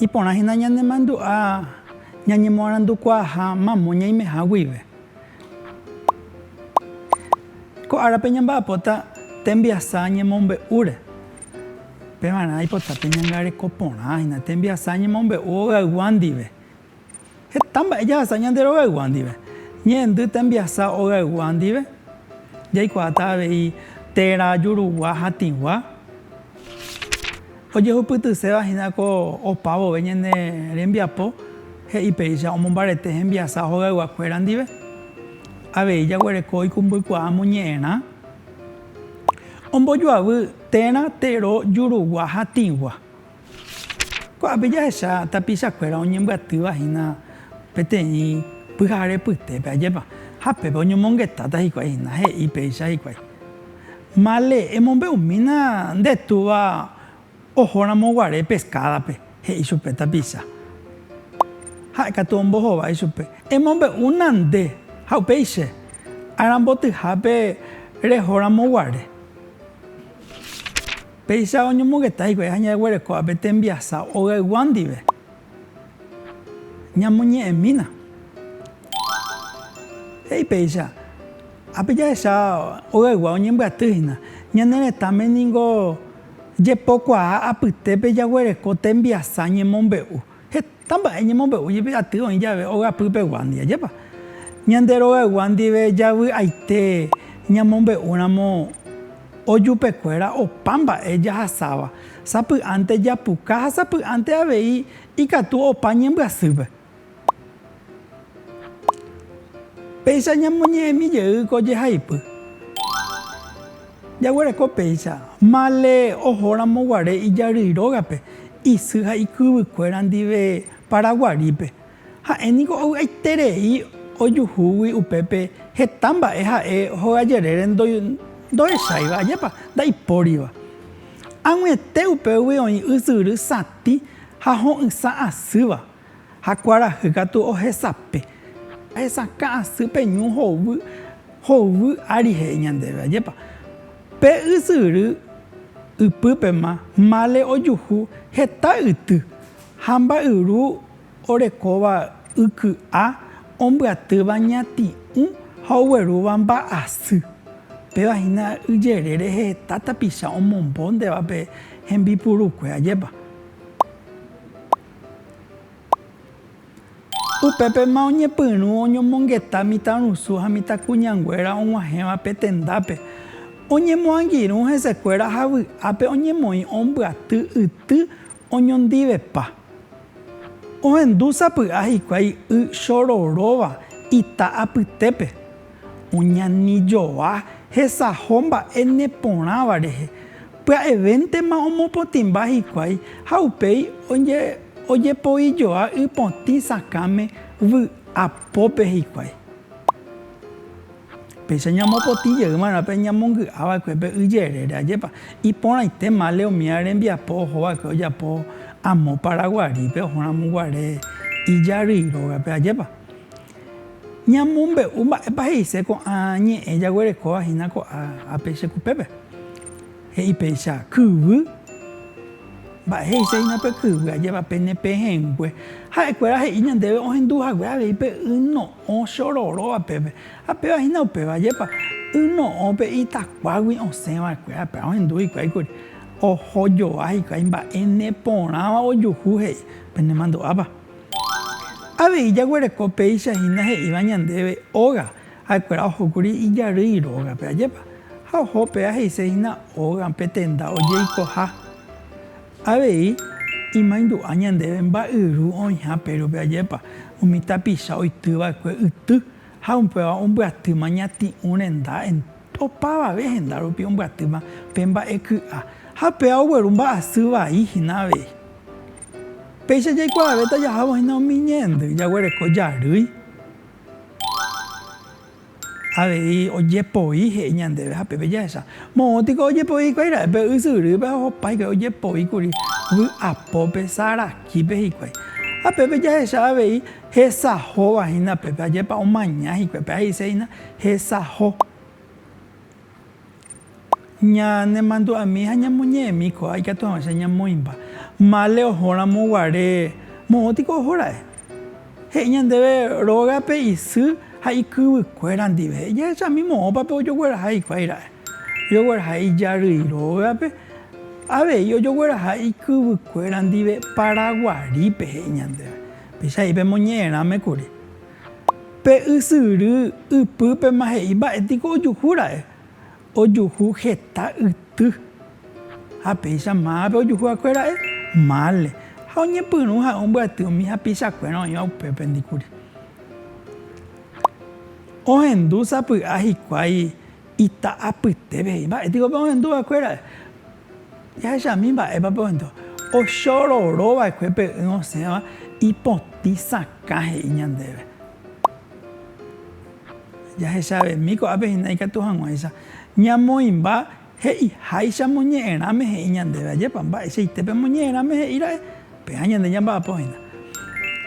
Iporã hína ñanemandu'a ñañemoarandukuaaha mamo ñaimeha guive. Ko árape ñamba'apóta tembiasa ñemombe'úre. Pevarã aipota peñangareko porã hína tembiasa ñemombe'u hogaygua ndive, Heta mba'e jahasa ñande rogaygua ndive. Ñe'ẽndy tembiasa ogaygua ndive, jaikuaáta avei téra jurugua ha tĩgua. Ojehupytyséva hína ko opa vove ñane rembiapo, he'i péicha omombarete hembiasa hogaygua kuéra ndive. Avei jaguereko ikumbykuaa moñe'ẽrã, ombojoavy téra tero jurugua ha tĩgua. Ko'ápe jahecha tapichakuéra oñembyatýva hína peteĩ pyhare pytépe, ajépa? Ha pépe oñomongetáta hikuái hína, he'i péicha hikuái, Male, emombe'umína nde túva ohóramo guare peskádape, he'i chupe tapicha. Ha'e katu ombohova ichupe, Emombe'úna nde, ha upéi che, arambotyhápe rehóramo guare. Péicha oñomongeta hikuái ha ñaguereko ápe tembiasa ogaygua ndive, ñamoñe'ẽmína. He'i péicha, Ápe jahecha ogaygua oñembyaty hína. Ñane retãme ningo jepokuaa apytépe jaguereko tembiasa ñemombe'u. Tamba'e ñemombe'u jepi aty oĩ jave ogapy pegua ndive. Ajépa ñande rogaygua ndive javy'aite ñamombe'úramo ojupe kuéra opa mba'e jahasáva, sapy'ánte japuka ha sapy'ánte avei ikatu opa ñembyasýpe. Péicha ñamoñe'ẽmi jey ko jehaipy. Jaguereko péicha, Male ohóramo guare ijary rógape, isy ha ikyvykuéra ndive Paraguarípe. Ha'e niko ovy'aiterei ojuhúgui upépe heta mba'e ha'e hogajerére ndohecháiva, ajépa ndaipóriva. Ag̃uiete upégui oĩ ysyry satĩ ha ho'ysã asýva. Ha kuarahy katu ohesape, ahesakã asy pe ñu hovy, hovy ári he'i ñandéve, ajépa, pe ysyry ypýpema mále ojuhu heta yty ha mba'yru orekóva yky'a ombyatýva ñati'ũ ha oguerúva mba'asy, péva hína yjere rehe heta tapicha omombo ndéva pe hembipurukue, ajépa. Upépema oñepyrũ oñomongeta mitãrusu ha mitãkuñanguéra og̃uahẽva pe tendápe. Oñemoangirũ hesekuéra ha vy'ápe oñemoĩ ombyaty yty oñondivepa. Ohendu sapy'a hikuái y chororóva ita apytépe. Oñani joa hesaho mba'e neporãva rehe, pya'evéntema omopotĩmba hikuái ha upéi ojepoi joa ypotĩ sakãme vy'a pópe hikuái. Péicha ñamopotĩ jey va'erã pe ñamongy'a va'ekue pe y jerére, ajépa iporãite male umi arembiapo oho va'ekue ojapo amo Paraguarípe oho ramo guare ijarýi rógape, ajépa. Ñamombe'u mba'épa he'ise ko'ã ñe'ẽ jaguerekóva hína ko'ã ápe che kupépe. He'i péicha, Kyvy. Mba'e he'ise hína pe kyvy? Ajépa pene pehẽngue. Ha'ekuéra he'i ñandéve ohendu hague avei pe y no'õ che ororóva pépe. Ha péva hína upéva, ajépa? Y no'õ pe itakuágui osẽ va'ekue, ha péva ohendu hikuái kuri. Oho joa hikuái mba'e ne porãva ojuhu he'i, Penemandu'ápa? Avei jaguereko péicha hína he'íva ñandéve óga, ha'ekuéra ohókuri ijarýi rógape, ajépa? Ha oho péva he'ise hína óga pe tenda ojeikoha. Avei imaindu'a ñandéve mba'yru oĩha pérope, ajépa? Umi tapicha oity va'ekue yty ha upéva ombyatýma ñati'ũ renda Opavave henda rupi ombyatýma pe mba'e ky'a, ha péva ogueru mba'asy vai hína avei. Péicha jaikuaave tajahávo hína umi ñe'ẽndy jaguereko jarýi avei ojepoi he'i ñandéve ha pépe jahecha. Moõ tiko ojepoi hikuái ra'e pe ysyrýpe ha ohopa hikuái ojepoi kuri vy'apópe, sarakípe hikuái. Ha pépe jahecha avei Hesahóva hína pépe, ajépa omaña hikuái pépe, he'ise hína hesaho. Ñanemandu'ami ha ñamoñe'ẽmi ko'ág̃a ikatu hag̃ua che ñamoĩmba. Mále ohóramo guare, moõ tiko oho ra'e. He'i ñandéve róga pe isy ha ikyvykuéra ndive, he'i jahechami moõpa pe ojogueraha hikuái ra'e. Ojogueraha ijarýi rógape, avei ojogueraha ikyvykuéra ndive Paraguarípe, he'i ñandéve. Pychãi pemoñe'ẽrãme kuri. Pe ysyry ypýpema he'i mba'e tiko ojuhu ra'e. Ojuhu heta yty. Ha péicha mávape ojuhu akue ra'e? Mále. Ha oñepyrũ ha'e ombyaty umi hapicha kuéra oĩva upépe ndikuri. Ohendu sapy'a hikuái Ita'apytépe he'i, mba'e piko pe'ohendu va'ekuéra? Jahechami mba'épa pe'ohendu. Ochororo va'ekue pe'ỹ osẽva ipotĩ sakã he'i ñandéve. Jahechavemi ko'ápe hína ikatu hag̃uáicha ñamoĩmba he'iháicha moñe'ẽrãme he'i ñandéve. Ajépa, mba'eichaite pe moñe'ẽrãme he'íra'e, péva ñande ñamba'apo hína.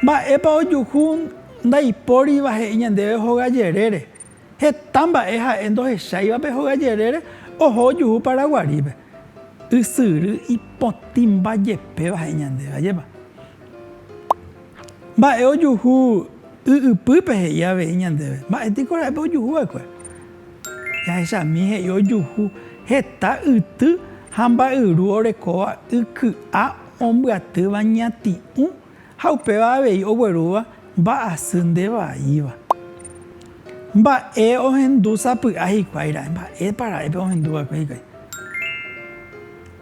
Mba'épa ojuhu ndaipóriva he'i ñandéve hoga jerére, Heta mba'e ha'e ndohecháivape hoga jerére oho ojuhu Paraguarípe. Ysyry ipotĩmba jepéva ha'e ñande, ajépa. Mba'e ojuhu y ypýpe he'i avei ñandéve. Mba'e tiko ra'e pe ojuhu va'ekue? Jahechami he'i ojuhu heta yty ha mba'yru orekóva y ky'a ombyatýva ñati'ũ Ha upéva avei oguerúva mba'asy nde vaíva. Mba'e ohendu sapy'a hikuái ra'e? Mba'épa ra'e pe ohendu va'ekue hikuái?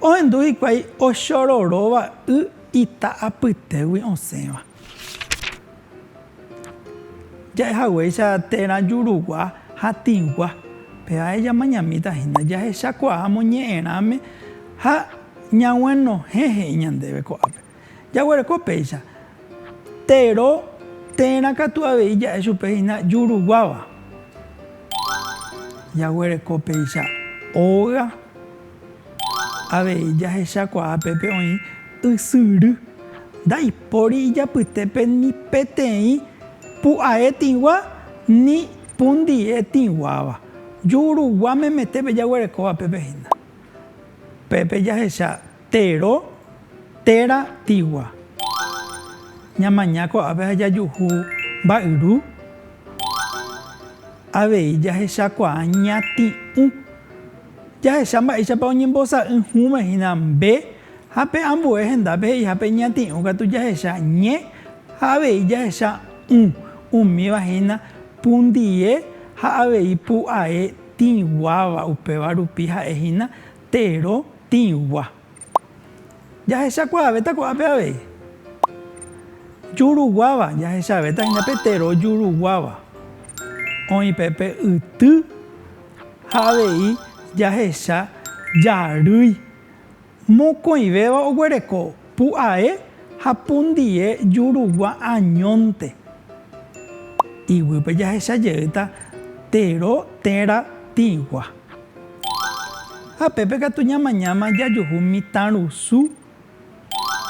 Ohendu hikuái ochororóva y ita apytégui osẽva. Ja'e haguéicha térã jurugua ha tĩgua, pe ae jamañamíta hína jahechakuaa moñe'ẽrãme ha ñaguenohẽ he'i ñandéve ko'ápe. Jaguereko péicha, Tero térã katu avei ja'e chupe hína juruguáva. Jaguereko péicha, Óga avei jahechakuaa pépe oĩ ysyry. Ndaipóri ijapytépe ni peteĩ pu'ae tĩgua ni pundie tĩguáva. Jurugua memetépe jaguerekóva pépe hína. Pépe jahecha Tero téra tigua. Ñamaña ko'ápe ha jajuhu mba'yru. Avei jahechakuaa ñati'ũ. Jahecha mba'éichapa oñembosa'y hũme hína mbe ha pe ambue hendápe he'iha pe ñati'ũ katu jahecha ñe ha avei jahecha ũ. Umíva hína pundie ha avei pu'ae tĩguáva upéva rupi ha'e hína Térõ tĩgua. Jahechakuaavéta ko'ápe avei. Juruguáva, jahechavéta hína pe térõ juruguáva. Oĩ pe pe yty ha avei jahecha jarýi. Mokõivéva oguereko pu'ae ha pundie jurugua añónte. Iguýpe jahecha jeýta térõ térã tĩgua. Ha pépe katu ñamañáma jajuhu mitãrusu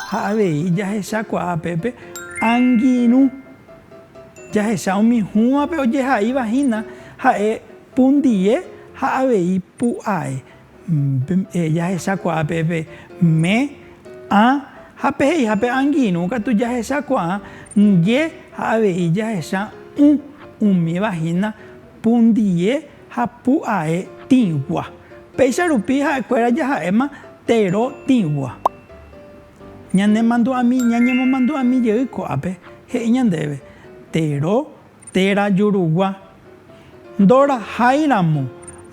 ha avei jahechakuaa pépe angirũ. Jahecha umi hũvape ojehaíva hína ha'e pundie ha avei pu'ae. Jahechakuaa pépe me, ã ha peheihápe angirũ katu jahechakuaa ndie ha avei jahecha ũ, umíva hína. Pundie ha pu'ae tĩgua. Péicha rupi ha'ekuéra jaha'éma tero tĩgua. Ñanemandu'ami, ñañemomandu'ami jey ko'ápe, he'i ñandéve, Tero téra jurugua. Ndoraháiramo,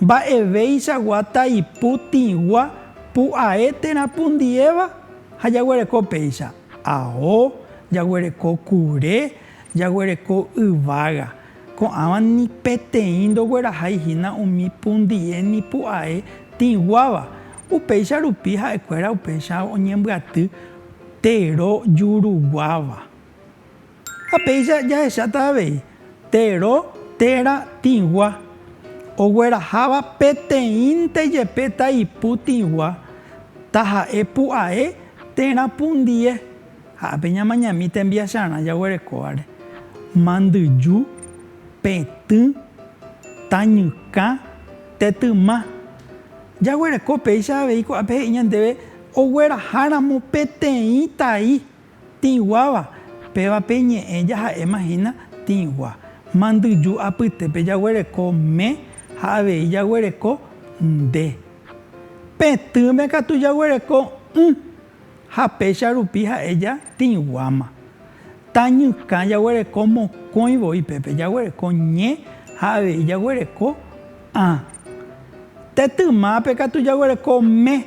mba'evéichagua taipu tĩgua pu'ae térã pundiéva ha jaguereko péicha, ao, jaguereko kure, jaguereko yvága. Ko'ãva ni peteĩ ndoguerahái hína umi pundie ni pu'ae tĩguáva. Upéicha rupi ha'ekuéra upéicha oñembyaty tero juruguáva. Ha péicha jahecháta avei, tero téra tĩgua, ogueraháva peteĩnte jepe taipu tĩgua, taha'e pu'ae térã pundie. Ha ápe ñamañami tembiacharã jaguerekóvare, mandyju, petỹ, tañykã, tetyma. Jaguereko péicha avei ko'ápe he'i ñandéve ogueraháramo peteĩ tai tĩguáva, péva pe ñe'ẽ jaha'éma hína tĩgua. Mandyju apytépe jaguereko me ha avei jaguereko nde. Petỹme katu jaguereko ỹ. Ha péicha rupi ha'e ja tĩguáma. Tañykã jaguereko mokõi voi pépe, jaguereko ñe ha avei jaguereko ã. Te tymápe katu jaguereko me.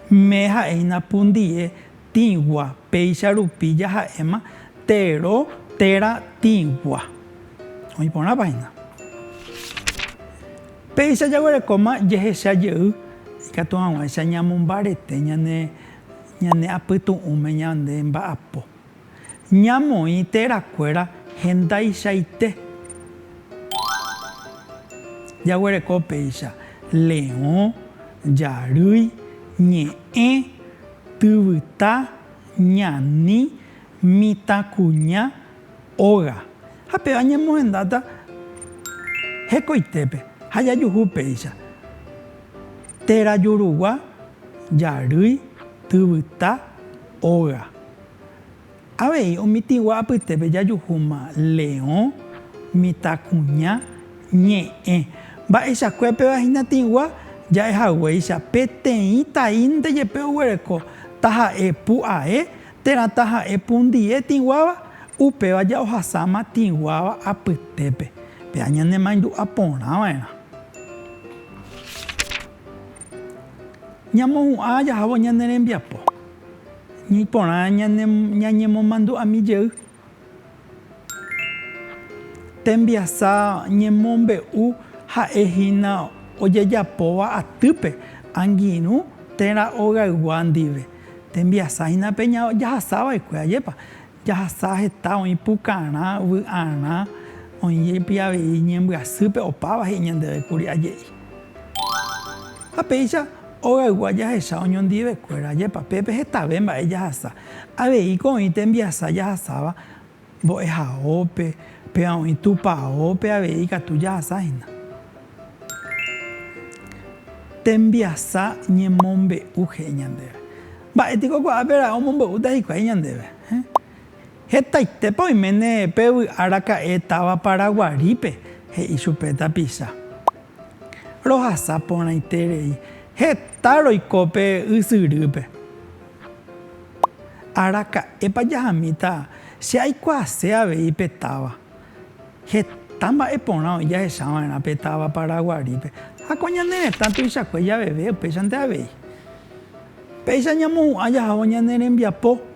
Me ha'e hína pundie tĩgua, péicha rupi jaha'éma tero térã tĩgua. Oĩ porãpa hína. Péicha jaguerekóma jehecha jey ikatu hag̃uáicha ñamombarete ñane ñane apytu'ũme ñande mba'apo. Ñamoĩ térã kuéra hendaichaite. Jaguereko péicha leõ, jarýi, ñe'ẽ, tyvyta, ñani, mitãkuña, Óga, ha péva ñamohendáta hekoitépe ha jajuhu péicha, téra jurugua, jarýi, tyvyta, óga. Avei omitĩgua apytépe jajuhúma leõ, mitãkuña, ñe'ẽ. Mba'eichakue péva hinatĩgua ja'e haguéicha peteĩ taínte jepe oguereko, taha'e pu'ae, Térã taha'e pundie tĩguáva, upéva ja'ohasáma tĩguáva apytépe. Péa ñanemaindu'a porã va'erã. Ñamohu'ã jahávo ñane rembiapo, ñaiporã ñañemomandu'ami jey Tembiasa ñemombe'u ha'e hína ojejapóva atýpe, angirũ térã ogaygua ndive. Tembiasa hína pe jahasa va'ekue, ajépa? Jahasa heta oĩ pukarã, vy'arã, oĩ jepi avei ñembyasýpe, opáva he'i ñandeve kuri, aje'i. Ha péicha. Ogaygua jahecha oñondivekuéra ajépa pépe hetave mba'e jahasa. Aveíko oĩ tembiasa jahasáva mbo'ehaópe, péva oĩ tupaópe avei ikatu jahasa hína. Tembiasa ñemombe'u he'i ñandéve. Mba'e piko ko'ápe ra'e omombe'úta hikuái ñandéve? Hetaitépa oiméne pe vy'araka'e táva Paraguarípe, he'i chupe tapicha. Rohasa porãite rei, heta roiko pe ysyrýpe. Araka'épa jahamíta che aikuaase avei pe táva. Heta mba'e porã oĩ jahecha va'erã pe táva Paraguarípe. Ha ko ñane retã tuichakue javeve upéichante avei. Péicha ñamohu'ã jahávo ñane rembiapo.